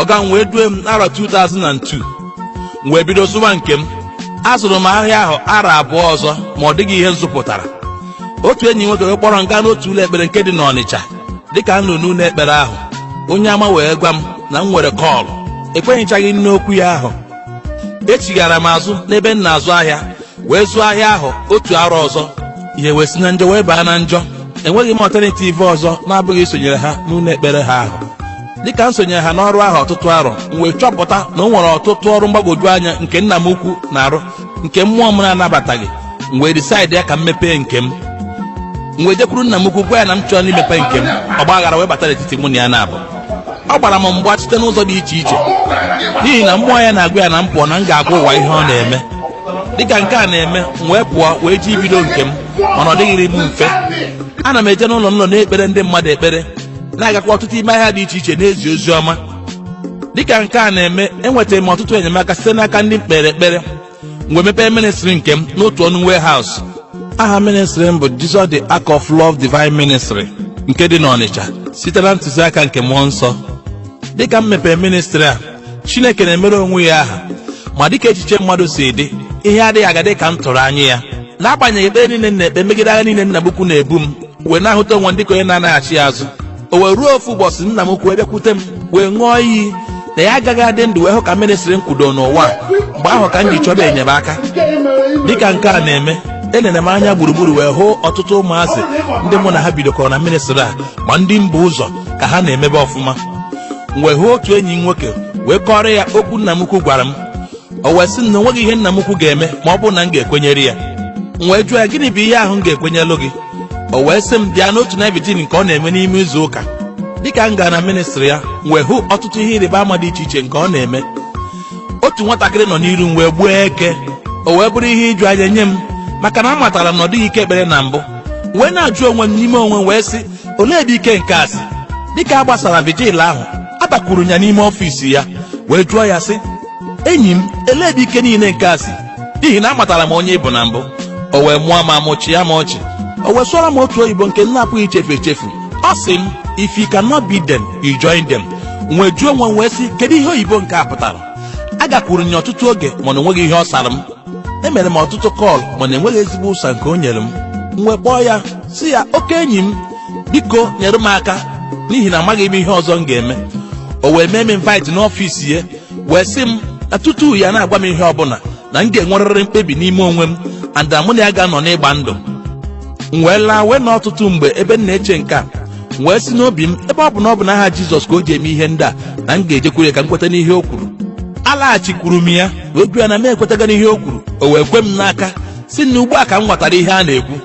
ọga m wee due m n'arọ 2002 m wee bido zụwa nke m azụrụ m ahịa ahụ arọ abụọ ọzọ ma ọ dịghị ihe m zụpụtara otu enyi nwoke wee kpọrọ m gaa n'otu ụlọ ekpere nke dị n'ọnịcha dịka m nọ n'ụlọ ekpere ahụ onye amụma wee gwa m na m nwere call ekwenyechaghị m n'okwu ya ahụ echighara m azụ n'ebe m na-azụ ahịa wee zụọ ahịa ahụ otu arọ ọzọ ihe wee si na njọ wee baa na njọ enweghị m alternative ọzọ na-abụghị isonyere ha n'ụlọ ekpere ha ahụ dịka m sonyere ha n'ọrụ ahụ ọtụtụ arọ m wee chọpụta na o nwere ọtụtụ ọrụ mgbagwoju anya nke nna m ukwu na-arụ nke mmụọ m na-anabataghị m wee decide ya ka m mepee nke m m wee jekwuru nna m ukwu gwa ya na m chọrọ imepe nke m ọgba aghara wee bata n'etiti mụ na ya naabọ ọ gbara m mgba site n'ụzọ dị iche iche n'ihi na mmụọ ya na-agwa ya na m pụọ na m ga-agwa ụwa ihe ọ na-eme dịka nke a na-eme m wee pụọ wee je ibido nke m mana ọ dịghịrị m mfe ana m eje n'ụlọ n'ụlọ na-ekpere ndị mmadụ ekpere na-agakwa ọtụtụ ime ahịa dị iche iche na-ezi ozi ọma dịka nke a na-eme enwetara m ọtụtụ enyemaka site n'aka ndị m kpeere ekpere m wee mepee ministri nke m n'otu ọnụ warehouse aha ministri m bụ Jesus the Ark of Love Divine Ministry nke dị n'Ọnịcha site na ntụziaka nke mmụọ nsọ dịka m mepere ministri a chineke na-emere onwe ya aha ma dịka echiche mmadụ si dị ihe adịghị aga dị ka m tụrụ anya ya n'agbanyeghị ekpere niile m na-ekpe megide agha niile nna m ukwu na-ebu m wee na-ahụta onwe m dịka onye na-anaghachi azụ o wee ruo ofu ụbọchị nna m ukwu wee bịakwute m wee ṅụọ iyi na ya agaghị adị ndụ wee hụ ka ministri m kwudo n'ụwa a. mgbe ahụ ka m ji chọba enyemaka dịka nke a na-eme elere m anya gburugburu wee hụ ọtụtụ ụmụazị ndị mụ na ha bidokọrọ na ministri a ma ndị m bu ụzọ ka ha na-emebe ọfụma m wee hụ otu enyi m nwoke wee kọrọ ya okwu nna m ukwu gwara m o wee sị m na o nweghị ihe nna m ukwu ga-eme ma ọ bụrụ na m ga-ekwenyere ya m wee jụọ ya gịnị bụ ihe ahụ m ga-ekwenyelụ gị o wee sị m bịa n'otu night vigil nke ọ na-eme n'ime izu ụka dịka m gara na ministri ya m wee hụ ọtụtụ ihe ịrịba ama dị iche iche nke ọ na-eme otu nwatakịrị nọ n'iru m wee gbuo eke o wee bụrụ ihe iju anya nye m maka na amatara m na ọ dịghị ike ekpere na mbụ wee na-ajụ onwe m n'ime onwe m wee sị olee ebe ike nke a si dịka a gbasara vigil ahụ abakwuru m ya n'ime ọfịs ya wee jụọ ya sị enyi m elee ebe ike niile nke a si n'ihi na amatara m onye ị bụ na mbụ o wee mụọ m amụ chịa m ọchị o wee sụọrọ m otu oyibo nke m na-apụghị ichefu echefu ọ sị m if you cannot beat them you join them m wee jụọ onwe m wee sị kedu ihe oyibo nke a pụtara agakwuru m ya ọtụtụ oge mana o nweghị ihe ọ sara m emere m ọtụtụ call mana enweghị ezigbo ụsa nke o nyere m m wee kpọọ ya sị ya oke enyi m biko nyere m aka n'ihi na amaghị m ihe ọzọ m ga-eme o wee mee m invite n'ọfịs ya wee sị m na tutu ya na-agwa m ihe ọbụla na m ga-enwerịrị mkpebi n'ime onwe m and na mụ na ya ga-anọ n'ịgba ndụ m wee laa wee nọọ ọtụtụ mgbe ebe m na-eche nke a m wee sị n'obi m ebe ọ bụ na ọ bụ n'aha jizọs ka o ji eme ihe ndị a na m ga-ejekwuru ya ka m kweta n'ihe o kwuru alaghachikwuru m ya wee gwa ya na m ekwetaga n'ihe o kwuru o wee kwe m n'aka sị na ugbu a ka m ghọtara ihe a na-ekwu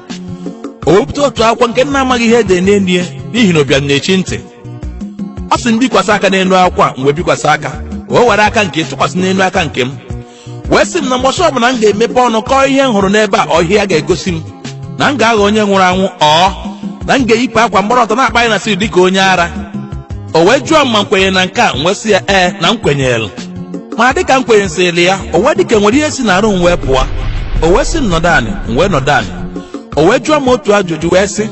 o wepụta otu akwụkwọ nke m na-amaghị ihe e dere n'elu ya n'ihi na ụbịam na-echi ntị ọ sị m bikwasị aka n'elu akwụkwọ a m wee bikwasị aka o were aka nke tụkwasị n'elu aka nke m wee sị m na mbọsị ọbụla m ga-emepe ọnụ kọọ ihe m hụrụ n'ebe a or ihe a ga-egosi m na m ga-aghọ onye nwụrụ anwụ or na m ga-eyipụ akwa m gbọrọ ọtọ na-akpagharị na street dịka onye ara o wee jụọ m ma m kwenyere na nke a m wee sị ya ee na m kwenyere ma dịka m kwenyesịrị ya o wee dịka e nwere ihe si n'arụ m wee pụọ o wee sị m nọdụ anị m wee nọdụ anị o wee jụọ m otu ajụjụ wee sị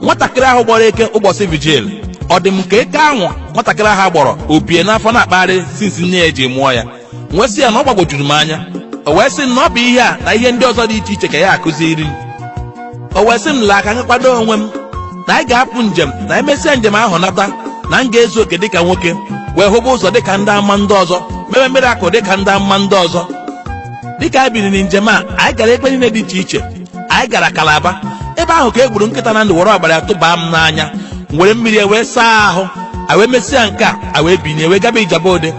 nwatakịrị ahụ gbọrọ eke ụbọchị vigil ọ dị m ka eke ahụ nwatakịrị ahụ gbọrọ o bu ya n'afọ na-akpagharị since nne ya eji mụọ ya m wee sị ya na ọ gbagwojuru m anya o wee sị m na ọ bụ ihe a na ihe ndị ọzọ dị iche iche ka ya akụziri m o wee sị m laa ka m kwado onwe m na anyị ga-apụ njem na emesịa njem ahụ nata na m ga-ezu oke dịka nwoke wee hụba ụzọ dịka ndị amụma ndị ọzọ mebe miracle dịka ndị amụma ndị ọzọ dịka anyị biniri njem a anyị gara ebe niile dị iche iche anyị gara kalaba ebe ahụ ka e gburu nkịta na ndụ were ọbara ya tụbaa m n'anya m were mmiri wee saa ahụ a wee mesịa nke a a wee binie wee gaba ijebu ode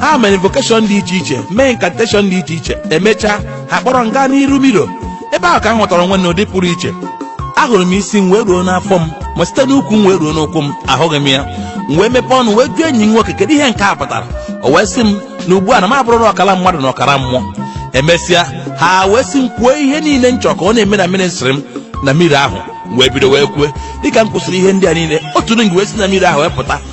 ha mere invokeshọn dị iche iche mee inkanteshọn dị iche iche emechaa ha kpọrọ m gaa n'iru miro ebe ahụ ka m hụtara onwe m n'ụdị pụrụ iche ahụrụ m isi m wee ruo n'afọ m ma site n'ukwu m wee ruo n'ụkwụ m ahụghị m ya m wee mepee ọnụ wee jụọ enyi m nwoke kedu ihe nke a pụtara o wee sị m na ugbu a na m abụrụla ọkara mmadụ na ọkara mmụọ emesịa ha wee sị m kwuo ihe niile m chọrọ ka ọ na-eme na ministri m na mmiri ahụ m wee bido wee kwue dịka m kwusịrị ihe ndị a niile otu ring wee si na mmiri ahụ wee pụta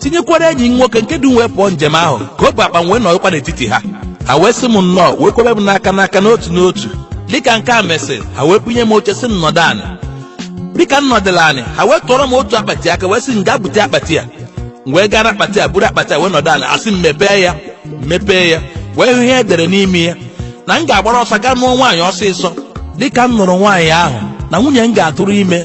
tinyekwara enyi m nwoke nke du m wee pụọ njem ahụ ka o bu akpa m wee nọrọkwa n'etiti ha ha wee sị m nnọọ wee kwebe m n'aka n'aka n'otu n'otu dịka nke a mesịrị ha wee bunye m oche sị m nọdụ anị dịka m nọdụla anị ha wee tụọrọ m otu akpati aka wee sị m gaa bute akpati a m wee gaa n'akpati a buru akpati a wee nọdụ anị a sị m mepee ya m mepee ya wee hụ ihe e dere n'ime ya na m ga-agbara ọsọ gaa nụọ nwaanyị ọsịsọ dịka m nụrụ nwaanyị ahụ na nwunye m ga-atụrụ ime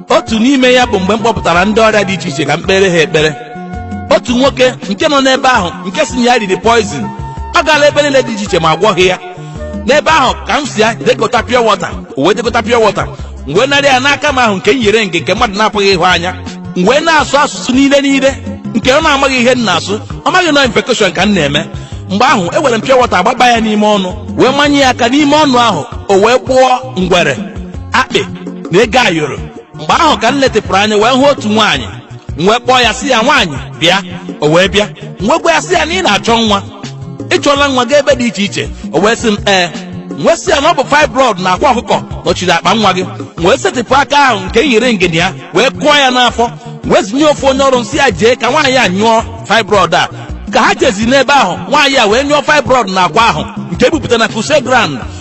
otu n'ime ya bụ mgbe m kpọpụtara ndị ọrịa dị iche iche ka m kpere ha ekpere otu nwoke nke nọ n'ebe ahụ nke sị na ya riri poizin ọ gaala ebe niile dị iche iche ma agwọghị ya n'ebe ahụ ka m sị ya je gota pure water o wee je gota pure water m wee narị ya n'aka m ahụ nke m yere ring nke mmadụ na-apụghị ịhụ anya m wee na-asụ asụsụ niile niile nke ọ na-amaghị ihe m na-asụ ọ maghị na invokeshọn ka m na-eme mgbe ahụ ewere m pure water agbaba ya n'ime ọnụ wee manye ya aka n'ime ọnụ ahụ o wee gbọọ ngwere akpị na ego ayọrọ mgbe ahụ ka m letịpụrụ anya wee hụ otu nwaanyị m wee kpọọ ya sị ya nwaanyị bịa o wee bịa m wee gwa ya sị ya na ị na-achọ nwa ị chọọla nwa gaa ebe dị iche iche o wee sị m ee m wee sị ya na ọ bụ fibroid na akwa ọkụkọ nọchiri akpa nwa gị m wee setịpụ aka ahụ nke m yi ringị na ya wee kụọ ya n'afọ wee zinye ofu onye ọrụ m sị ya jee ka nwaanyị a nyụọ fibroid a ka ha jezi n'ebe ahụ nwaanyị a wee nyụọ fibroid na akwa ahụ nke ebupụta na crusade ground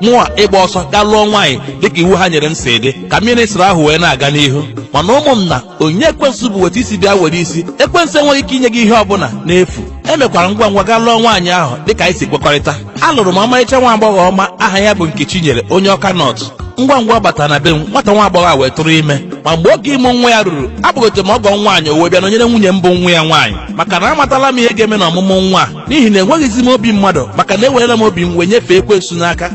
mụwa ịgba ọsọ gaa lụọ nwaanyị dịka iwu ha nyere m si dị ka ministri ahụ wee na-aga n'ihu mana ụmụnna onyinye ekwensu bụ weta isi bịa were isi ekwensu enweghị ike inye gị ihe ọbụla n'efu emekwara ngwa ngwa gaa lụọ nwaanyị ahụ dịka anyị si kwekọrịta alụrụ m ọmarịcha nwa agbọghọ ọma aha ya bụ Nkechinyere onye Awka North ngwa ngwa ọ batara na be m nwata nwa agbọghọ a wee tụrụ ime ma mgbe oge ịmụ nwa ya ruru akpọgote m ọgọ nwaanyị o wee bịa nọnyere nwunye m bụ nwa ya nwaanyị maka na amatala m ihe ga-eme na ọmụmụ nwa a n'ihi na enweghịzi m obi mmadụ maka na ewerela m obi m wee nyefee ekwensu n'aka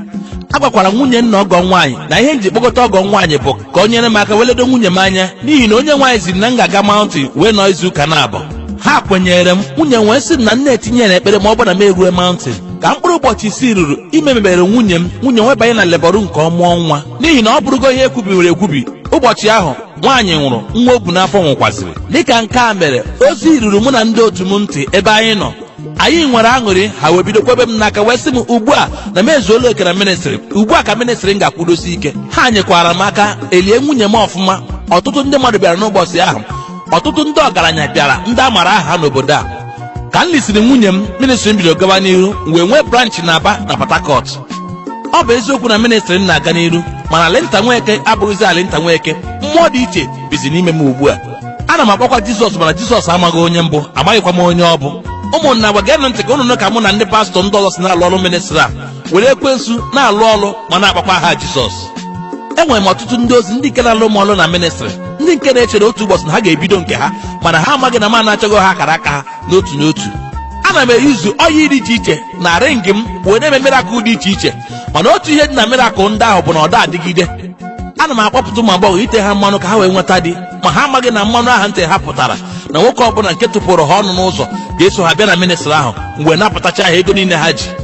agwakwara m nwunye m na ọgọ nwaanyị na ihe m ji kpọgota ọgọ nwaanyị bụ ka o nyere m aka wee ledo nwunye m anya n'ihi na onyenwe anyị ziri na m ga-aga maụntịn wee nọ izu ụka naabọ ha kwenyere m nwunye m wee sị m na m na-etinye na ekpere ma ọ bụrụ na m erue maụntịn ka mkpụrụ ụbọchị isii ruru ime mebere nwunye m nwunye m wee banye na lebọrụ nke ọmụọ nwa n'ihi na ọ bụrụgo ihe ekwubiwere ekwubi ụbọchị ahụ nwaanyị nwụrụ nwa o bu n'afọ nwụkwaziri dịka nke a mere ozi ruru mụ na ndị otu m ntị ebe anyị nọ anyị nwere aṅụrị ha wee bido kwebe m n'aka wee sị m ugbu a na m ezuola oke na ministrị ugbu a ka ministrị m ga-akwụdosi ike ha nyekwara m aka elie nwunye m ọfụma ọtụtụ ndị mmadụ bịara n'ụbọchị ahụ ọtụtụ ndị ọgaranya bịara ndị a mara aha n'obodo a ka m lisiri nwunye m ministri m bidoro gawa n'iru m wee nwee branch na aba na port harcourt ọ bụ eziokwu na ministri m na-aga n'iru mana alinta nweke abụghịzi alinta nweke mmụọ dị iche bizi n'ime m ugbu a ana m akpọkwa jizọs mana jizọs amaghị onye m bụ amaghịkwa m onye ọ bụ ụmụnna ngwa geenụ ntị ka ụnụ nụ ka mụ na ndị pastọ ndị ọzọ si na-alụ ọlụ ministri a were ekwensu na-alụ ọlụ ma na-akpọkwa aha jizọs enwere m ọtụtụ ndị ozi ndị nke na-alụ m ọlụ na ministrị ndị nke na-echere otu ụbọchị na ha ga-ebido nke ha mana ha amaghị na m anachago ha akara aka ha n'otu n'otu ana m eyuzu oil dị iche iche na ringị m wee na-eme mirakụl dị iche iche mana otu ihe dị na mirakụl ndị ahụ bụ na ọ da adịgide ana m akpọpụta ụmụ agbọghọ ite ha mmanụ ka ha wee nweta di ma ha amaghị na mmanụ ahụ m te ha pụtara na nwoke ọbụla nke tụpụrụ ha ọnụ n'ụzọ ga-eso ha bịa na ministrị ahụ m wee napụtacha ha ego niile ha ji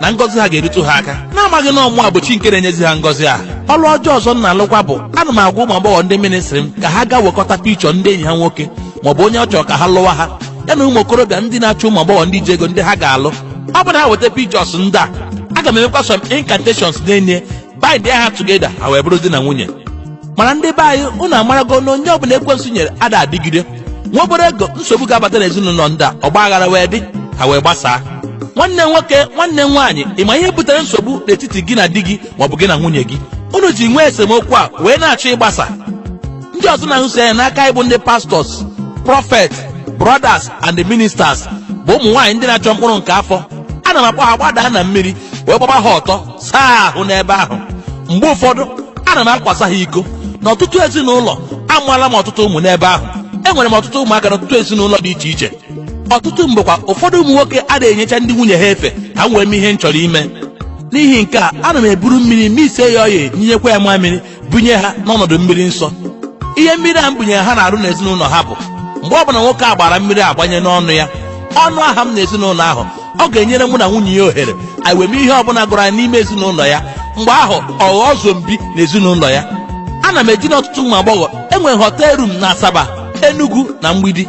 na ngọzi ha ga-erutu ha aka na-amaghị na ọ mụwa bụ chi nke na-enyezi ha ngọzi ahụ ọrụ ọjọọ ọzọ m na-alụkwa bụ ana m agwa ụmụ agbọghọ ndị ministri m ka ha gaa wekọta pichọ ndị enyi ha nwoke maọbụ onye ọ chọrọ ka ha lụwa ha ya na ụmụ okorobịa ndị na-achọ ụmụ agbọghọ ndị ji ego ndị ha ga-alụ ọ bụrụ na ha weta pichọs ndị a aga m emekwa some incantations na-enye bind ha together ha wee bụrụ di na nwunye mana ndị be anyị unu amarago na onyinye ọbụla ekwensu nyere ada adịgide nwa obere ego nsogbu ga-abata n'ezinụlọ ndị a ọgba aghara wee dị ha wee gbasaa nwanne nwoke nwanne nwaanyị ị ma ihe butere nsogbu n'etiti gị na di gị maọbụ gị na nwunye gị unu ji nwee esemokwu a wee na-achọ ịgbasa ndị ọzọ na-ahụsi anya n'aka anyị bụ ndị pastors prophet brothers and the ministers bụ ụmụ nwaanyị ndị na-achọ mkpụrụ nke afọ ana m akpọ ha gbadaa na mmiri wee gbaba ha ọtọ saa ahụ n'ebe ahụ mgbe ụfọdụ ana m akwasa ha iko n'ọtụtụ ezinụlọ amụọla m ọtụtụ ụmụ n'ebe ahụ enwere m ọtụtụ ụmụaka n'ọtụtụ ezinụlọ dị iche iche ọtụtụ mgbekwa ụfọdụ ụmụ nwoke ada enyecha ndị nwunye ha efe ka m wee mee ihe m chọrọ ime n'ihi nke a ana m eburu mmiri mixie ya oil nyụnyekwa ya mamịrị bunye ha n'ọnọdụ mmiri nsọ ihe mmiri a m bunyere ha na-arụ n'ezinụlọ ha bụ mgbe ọbụla nwoke a gbara mmiri a gbanye n'ọnụ ya ọ nụ aha m n'ezinụlọ ahụ ọ ga-enyere mụ na nwunye ya ohere anyị wee mee ihe ọbụla gụrụ anyị n'ime ezinụlọ ya mgbe ahụ ọ ghọọ zombie n'ezinụlọ ya ana m edina ọtụtụ ụmụ agbọghọ enwere m hotel room na asaba enugu na mgbidi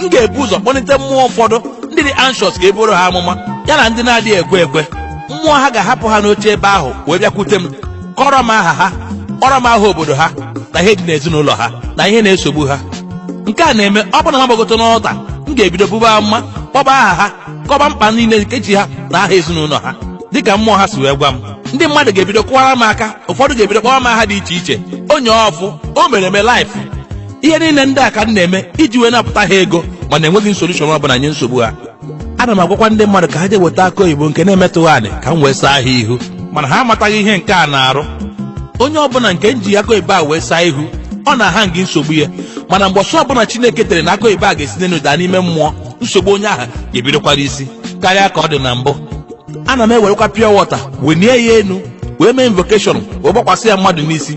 m ga-ebu ụzọ kpọlite mmụọ ụfọdụ ndị dị anxious ka e buoro ha amụma ya na ndị na-adịghị ekwe ekwe mmụọ ha ga-ahapụ ha n'oche ebe ahụ wee bịakwute m kọrọ m aha ha kpọrọ m aha obodo ha na ihe dị n'ezinụlọ ha na ihe na-esogbu ha nke a na-eme ọ bụrụ na m gbagote n'altar m ga-ebido bube amụma kpọba aha ha kọba mkpa niile nke ji ha na aha ezinụlọ ha dịka mmụọ ha si wee gwa m ndị mmadụ ga-ebido kụwara m aka ụfọdụ ga-ebido kpọwa m aha dị iche iche onye ọfụ o mere eme life ihe niile ndị a ka m na-eme iji wee napụta ha ego mana enweghị m solution ọ bụla nye nsogbu ha ana m agwakwa ndị mmadụ ka ha jee weta akụ oyibo nke na-emetụghị anị ka m wee saa ha ihu mana ha amataghị ihe nke a na-arụ onye ọbụla nke m ji akụ oyibo a wee saa ihu ọ na-aha gị nsogbu ya mana mgbe ọsọ ọbụla chineke tere na akụ oyibo a ga-esi n'elu daa n'ime mmụọ nsogbu onye ahụ ga-ebidokwara isi karịa ka ọ dị na mbụ ana m ewerekwa pure water wenie ya enu wee mee invocation wee gbakwasị ya mmadụ n'isi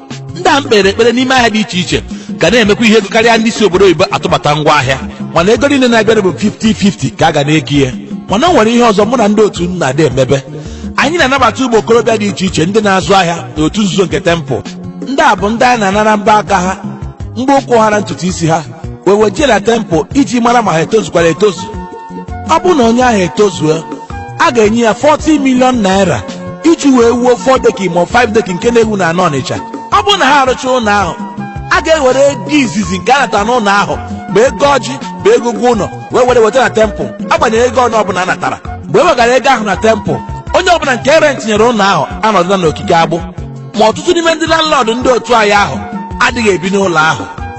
ndị a m kpeere ekpere n'ime ahịa dị iche iche ga na-emekwa ihe ego karịa ndị si obodo oyibo atụbata ngwa ahịa mana ego niile na-abịanụ bụ 50-50 ka a ga na-eke ihe mana o nwere ihe ọzọ mụ na ndị otu m na-adị emebe anyị na-anabata ụmụ okorobịa dị iche iche ndị na-azụ ahịa n'otu nzuzo nke temple ndị a bụ ndị anyị na-anara mbọ aka ha mbọ ụkwụ ha na ntutu isi ha wee wejee na temple iji mara ma ha etozukwara etozu ọ bụrụ na onye ahụ etozuo a ga-enye ya 40 million naira iji wee wuo 4 deck ma 5 deck nke na-ewu na ana ọnịcha ọ bụrụ na ha arụcha ụlọ ahụ a ga-ewere ego izizi nke a natara n'ụlọ ahụ ma ego ọjị ma ego ụgwọ ụlọ wee were weta na temple agbanyeghị ego ọnụ ọbụla a natara mgbe e wegara ego ahụ na temple onye ọbụla nke e rent nyere ụlọ ahụ anọdụla n'okike agbụ ma ọtụtụ n'ime ndị landlord ndị otu anyị ahụ adịghị ebi n'ụlọ ahụ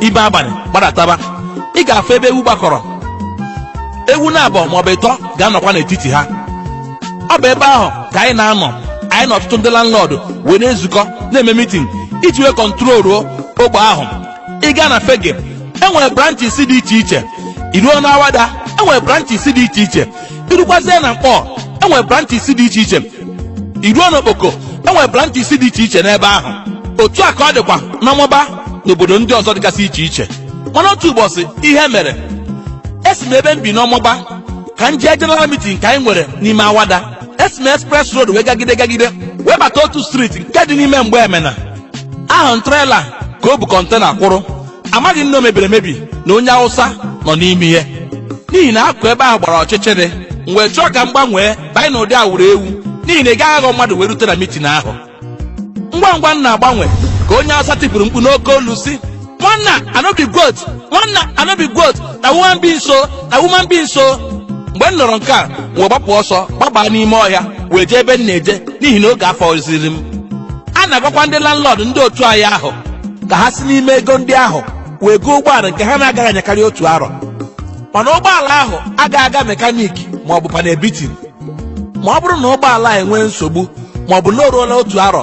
ime abalị gbadataba ị ga-afụ ebe ewu gbakọrọ ewu naabọ maọbụ ịtọ ga-anọkwa n'etiti ha ọ bụ ebe ahụ ka anyị na-anọ anyị na ọtụtụ ndị landlord wee na-ezukọ na-eme mitin iji wee kọntroluo ogbe ahụ ị gaa na fegge enwere branches dị iche iche i ruo na awada enwere branches dị iche iche i rukwazie na nkpor enwere branches dị iche iche i ruo na okpoko enwere branches dị iche iche n'ebe ahụ otu a ka ọ dịkwa n'ọmagba n'obodo ndị ọzọ dịgasị iche iche mana otu ụbọchị ihe mere esi m ebe m bi n'ọmagba ka m jee general meeting nke anyị nwere n'ime awada esi m express road wee gagide gagide wee bata otu street nke dị n'ime mgbemena ahụ m trela ka o bu kọntena kwụrụ amaghị m na o mebiri emebi na onye awụsa nọ n'ime ihe n'ihi na akụkụ ebe ahụ gbara ọchịchịrị m wee chọọ ka m gbanwee banye n'ụdị awụrụ ewu n'ihi na ị gaghị aghọ mmadụ wee rute na mitin ahụ ngwa ngwa m na-agbanwe ka onye awụsa tipụrụ mkpu n'oke olu sị nwanna i no be goat nwanna i no be goat na woman being so na woman being so mgbe m nụrụ nke a m wee gbapụ ọsọ gbabaa n'ime ọhịa wee jee ebe m na-eje n'ihi na oge afọzighịrị m a na-agwakwa ndị landlord ndị otu anyị ahụ ka ha si n'ime ego ndị ahụ wee goo ụgbọala nke ha na-agaghị anyakarị otu arọ mana ụgbọala ahụ agaghị aga mekaniki ma ọ bụ panel beating ma ọ bụrụ na ụgbọala a enwee nsogbu ma ọ bụ na o ruola otu arọ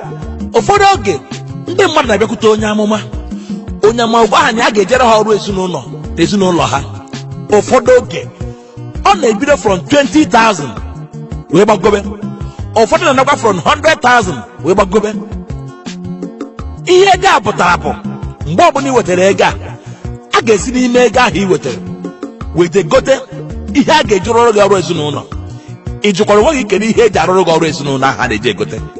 ụfọdụ oge ndị mmadụ na-abịakwute onye amụma onye amụma gwa ha na ya ga-ejere ha ọrụ ezinụlọ na ezinụlọ ha ụfọdụ oge ọ na-ebido from 20,000 wee gbagobe ụfọdụ na-anakwa from 100,000 wee gbagobe ihe ego a pụtara bụ mgbe ọbụla ị wetara ego a a ga-esi n'ime ego ahụ ị wetara wee je gote ihe a ga-eji rụrụ gị ọrụ ezinụlọ ị jụkwara onwe gị kedu ihe eji arụrụ gị ọrụ ezinụlọ ahụ a na-eji egote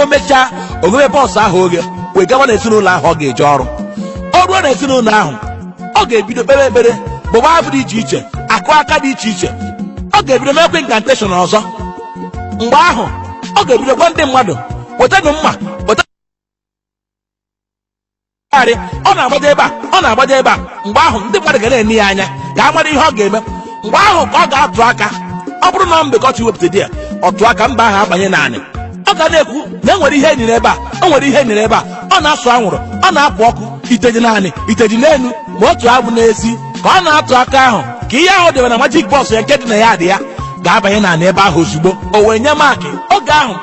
o mechaa o ghebe box ahụ oghe wee gawa na ezinụlọ ahụ ọ ga-eje ọrụ ọ ruo na ezinụlọ ahụ ọ ga-ebido kpebe ekpere bụba abụ dị iche iche akụ aka dị iche iche ọ ga-ebido mekwa inkanteshọn ọzọ mgbe ahụ ọ ga-ebido gwa ndị mmadụ wetanụ mma Gharị, ọ na-agbaje ebe a ọ na-agbaje ebe a mgbe ahụ ndị mmadụ ga na-ene ya anya ka a mara ihe ọ ga-eme mgbe ahụ ka ọ ga-atụ aka ọ bụrụ na ọ mbe ka ọ chọ iwepụta di ya ọ tụọ aka mbe ahụ abanye n'anị ọ ga na-ekwu na enwere ihe enyere ebe a o nwere ihe enyere ebe a ọ na-asụ anwụrụ ọ na-apụ ọkụ iteji n'anị iteji n'elu ma otu ọ bụ n'ezie ka ọ na-atụ aka ahụ ka ihe ahụ debe na magic box ya nke dị na yard ya ga-abanye n'anị ebe ahụ ozugbo o wee nye maakị oge ahụ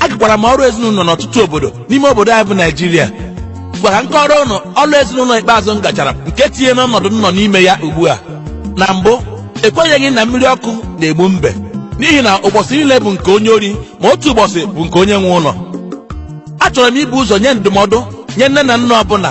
agakwara m ọrụ ezinụlọ n'ọtụtụ obodo n'ime obodo anyị bụ naijiria ngwa ka m kọọrọ ụnụ ọrụ ezinụlọ ikpeazụ m gachara bụ nke tinyere m n'ọnọdụ m nọ n'ime ya ugbu a na mbụ ekwenyeghị m na mmiri ọkụ na-egbu mbe n'ihi na ụbọchị niile bụ nke onye ori ma otu ụbọchị bụ nke onye nwe ụlọ achọrọ m ibu ụzọ nye ndụmọdụ nye nne na nna ọbụla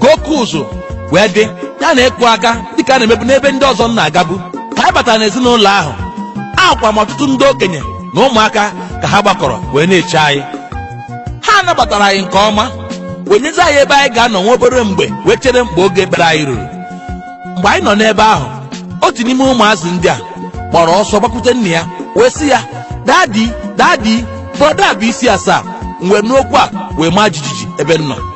ka oke ụzụ wee dị ya na-akụ aka dịka a na-emebu n'ebe ndị ọzọ m na-agabu ka anyị batara n'ezinụlọ ahụ ahụkwa m ọtụtụ ndị okenye na ụmụaka ka ha gbakọrọ wee na-eche anyị ha nabatara anyị nke ọma wee nyezi anyị ebe anyị ga-anọ nwa obere mgbe wee chere mgbe oge ekpere anyị ruru mgbe anyị nọ n'ebe ahụ otu n'ime ụmụazị ndị a kpọrọ ọsọ gbakwute nna ya wee sị ya dadi dadi brọda a bu isi asaa m wee nụ okwu a wee maa jijiji ebe m nọ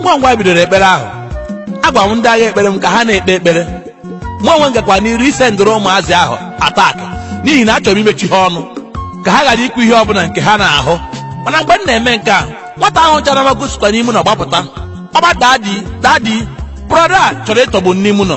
ngwa ngwa bidoro ekpere ahụ agwa m ndị agha ekpere m ka ha na-ekpe ekpere mụ onwe m gakwa n'iru ịsendịrị ụmụazị ahụ atak n'ihi na achọrọ m imechi ha ọnụ ka ha ghara ikwu ihe ọbụla nke ha na-ahụ mana mgbe m na-eme nke a nwata ahụ chara mago sikwa n'ime ụnọ gbapụta ọba dadi dadi brọda a chọrọ ịtọgbu m n'ime ụnọ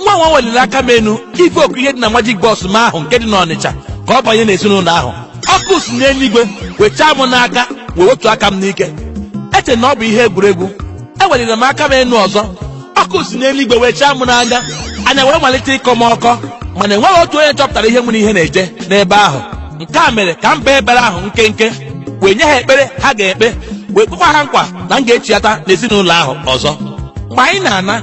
ngwa ngwa m weliri aka m enu ife oku ihe dị na majik bọs m ahụ nke dị n'ọnịcha ka ọ banye n'ezinụlọ ahụ ọkụ si n'eluigwe wee chaa m n'aka wee wetu aka m n'ike eche m na ọ bụ ihe egwuregwu eweliri m aka m enu ọzọ ọkụ si n'eluigwe wee chaa m n'anya anya wee malite ịkọ m ọkọ mana enweghị otu onye chọpụtara ihe nwere ihe na-eje n'ebe ahụ nke a mere ka m bee ekpere ahụ nkenke wee nye ha ekpere ha ga-ekpe wee kwekwa ha nkwa na m ga-echiata n'ezinụlọ ahụ ọzọ mgbe anyị na-ana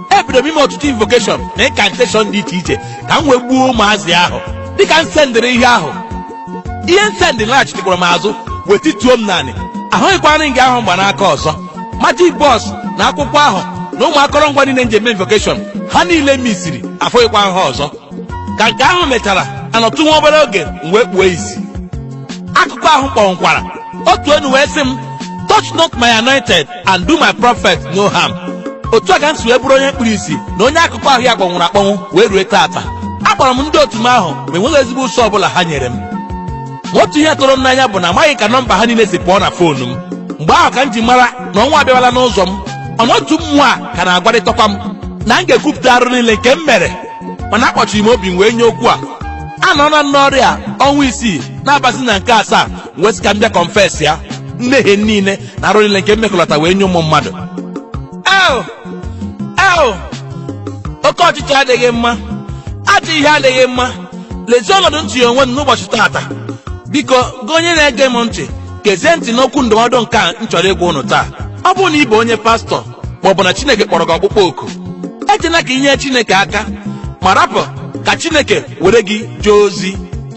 ebido m ime ọtụtụ invokeshọn na ịnkanteshọn dị iche iche ka m wee gbuo ụmụazị ahụ dịka m sendịrị ihe ahụ ihe m sendị laghachitekwara m azụ wee tituo m n'anị ahụghịkwa m ring ahụ m gba n'aka ọzọ majik bọs na akwụkwọ ahụ na ụmụ akọrọngwa niile m ji eme invokeshọn ha niile misiri afụghịkwa ha ọzọ ka nke ahụ mechara anọtụ nwa obere oge m wee kpuo isi akụkụ ahụ m kpọnwụkwara otu onu wee sị m touch not my anointed and do my prophet no harm otu a ka m si wee bụrụ onye kpuru isi na onye akụkụ ahụ ya kpọnwụrụ akpọnwụ wee rue taata akpọrọ m ndị otu m ahụ ma enweghị ezigbo ụsa ọbụla ha nyere m otu ihe tụrụ m n'anya bụ na amaghị ka nọmba ha niile si pụọ na foonu m mgbe ahụ ka m ji mara na ọnwụ abịawala n'ụzọ m onu otu mmụọ a ka na-agwarịtakwa m na m ga-ekwupụta arụ niile nke m mere mana akpọchiri m obi m wee nye okwu a anọọna m n'ọrịa ọnwa isii na-abazi na nke asaa wee sị ka m bịa kọnfesịa mmehie m niile na arụ niile nke m mekọlọta wee nye ụmụ mmadụ ewo ewo oke ọchịchọ adịghị mma ajọ ihe adịghị mma lezie ọnọdụ m tinye onwe m n'ụbọchị taata biko gị onye na-ege m ntị gezie ntị n'okwu ndụmọdụ nke a m chọrọ ịgwa ụnụ taa ọ bụrụ na ị bụ onye pastọ ma ọ bụ na chineke kpọrọ gị ọkpụkpọ oku ejela ka inye chineke aka ma rapụ ka chineke were gị jee ozi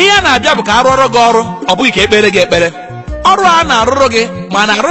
ihe a na-abịa bụ ka a rụọrọ gị ọrụ ọ bụghị ka e kpeere gị ekpere ọrụ a na-arụrụ gị ma na-arụ